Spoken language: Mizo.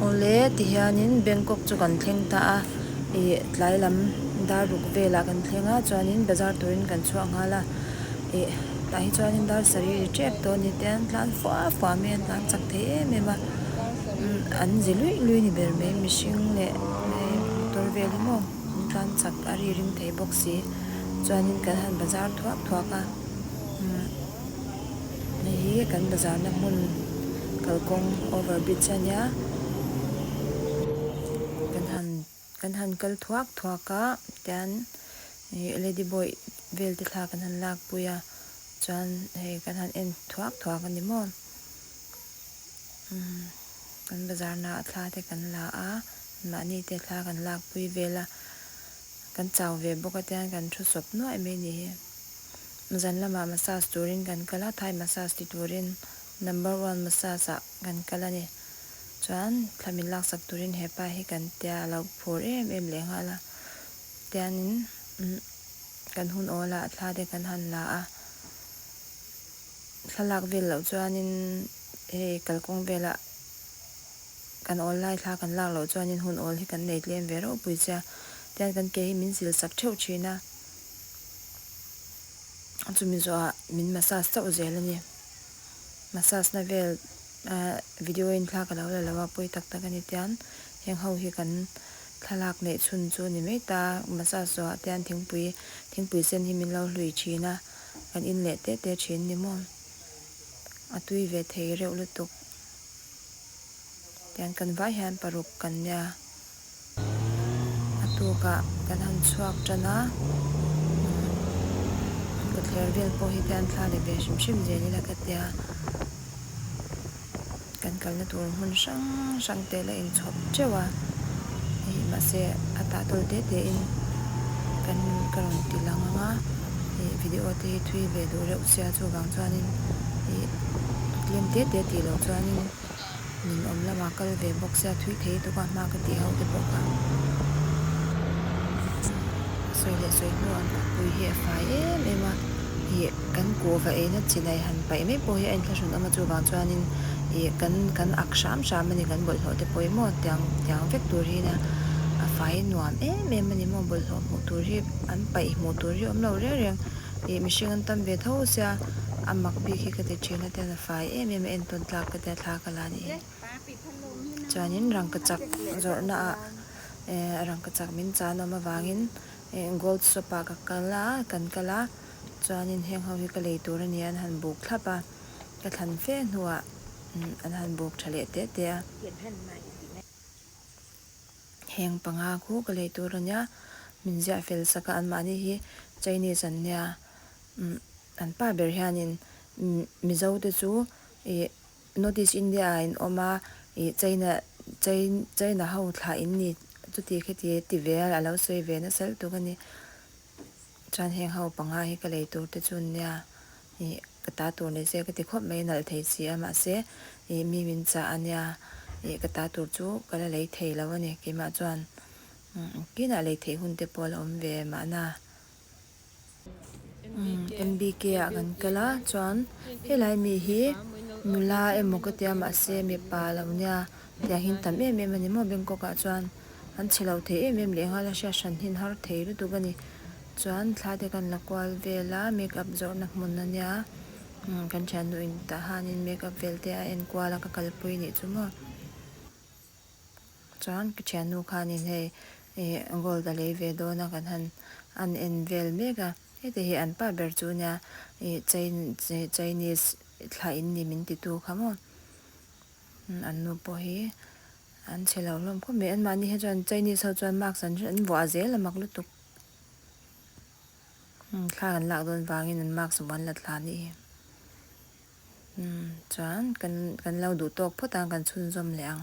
Awle, tihianin Bangkok chu kan thleng ta a, ih tlai lam dar ruk velah kan thleng a chuanin bazar turin kan chhuak nghal a, ih tah hi chuanin dar sarih ri ṭek tawh a ni te an tlan fuah fuah mai a, an tlan chak thei em em a, an zi luih luih a ni ber mai, mihring leh hei motor vel emaw an tlan chak a ri ring thei bawk si, chuanin kan han bazar thuak thuak a, umm. Hei hi kan bazarna hmun kalkawng over bridge a nia kan han kan han kal thuak thuak a tian ih lady boy vel te thla kan han lakpui a chuan hei kan han en thuak thuak a ni maw umm kan bazar naah thla te kan la a mahni te thla kan lakpui vel a kan chau ve bawk a tian kan thu sawp nuai mai ni hi. Zan lamah massage turin kan kal a, Thai massage ti turin number one massage ah kan kal a ni. Chuan thla min laksak turin hepa hi kan tia a lo phur em em leh nghal a. Tianin umm kan hun awl a, a thla te kan han la a. Thla lak vel loh chuanin hei kalkawng velah kan awl lai thla kan lak loh chuanin hun awl hi kan nei tlem ve reuhpui che a. Tian kan ke hi min zil sak theuh thin a. chumi zawha min massage chauh zel a ni massage na vel ah video in thla ka lo la lo a pawi tak tak a ni tiang heng ho hi kan thlalak neih chhun chu a ni mai ta massage zawha te hian thingpui thingpui sen hi min lo hlui thin a kan in leh teh teh thin a ni maw a tui ve thei reuh lutuk tiang kan vai hian paruk kan nia. A tukah kan han chhuak tan a, kutler vel pawh hi khian thla leh ve hrim hrim zel ila ka tia, kan kalna tur hmun hrang hrang te la in chhawp teuh a, hei mahse a tah tawl te te in kan ka rawn ti lang ang a, hei video te hi thui ve duh reuh sia chuvang chuan in tlem te te tih loh chuan in. Min awm lamah kal ve bawk sia, thui thei tuk a, hma ka tih ho te pawh kha sawi leh sawi hnu a, Pui hi a fai em em a, ih kan kuh va eina chinai han paih mai pawh hi a inthlahrun awm a, chuvang chuanin ih kan kan ak hram hram a ni, kan bawlhhlawh te pawh hi maw tiang tiang vek tur hi nia, a fai nuam em em a ni maw bawlhhlawh hmuh tur hi an paih hmuh tur hi awm lo reng reng, ih mihring an tam ve tho sia, a mak bik hi ka ti thin a. fai em em a entawn tlak ka tia thlak a la nih hi chuanin rangkachak zawrhnaah ehh rangkachak min chan awm avangin gold shop ah ka kal a kan kal a chuanin heng ho hi ka lei tur a ni a an han buk thlap a ka thlan fe hnuah an han buk tha leh teh teh a heng panga khu ka lei tur a nia min ziah fel sak a an mahni hi Chinese an nia umm. An pa ber hianin Mizote chu ih North East India ah in awm a, ih China, Chain, China ho thlah in ni chuti kheti ti ve a, a lo sawi ve nasal tuk a ni. Chuan heng ho panga hi ka lei tur te chu nia, ih ka ta tur ni se ka ti khawp mai nalh thei si a, mahse ih mi min chah a nia, ih ka ta tur chu ka la lei thei lo a ni, keimah chuan engkinah lei theih hun te pawh a la awm ve mahna. MBK ah kan kal a chuan helai mi hi nula emaw ka tia mahse mipa lo nia tih ang in tam em em a ni maw Bangkok ah chuan an chhe lo thei em em leh nghal a hriat hran hin har thei lutuk a ni chuan thla te kan la kual vel a makeup zawrh na hmun a nia umm kan thiannu in tah han in makeup vel te a enkual a ka kalpui nih chu maw. Chuan ka thiannu khanin hei gold a lei ve dawn a kan han an en vel mek a, heti hi an pa ber chu nia ih Chinese thla in ni min ti tu kha maw, an nu pawh hi an chhe lo hlawm khawp mai, an mahni hi chuan Chinese ho chuan marks an vuah zel a mak lutuk, thla an lak dawn vangin an marks vuan la tla anih hi, chuan kan lo duh tawk phawt a kan chhunzawm leh ang.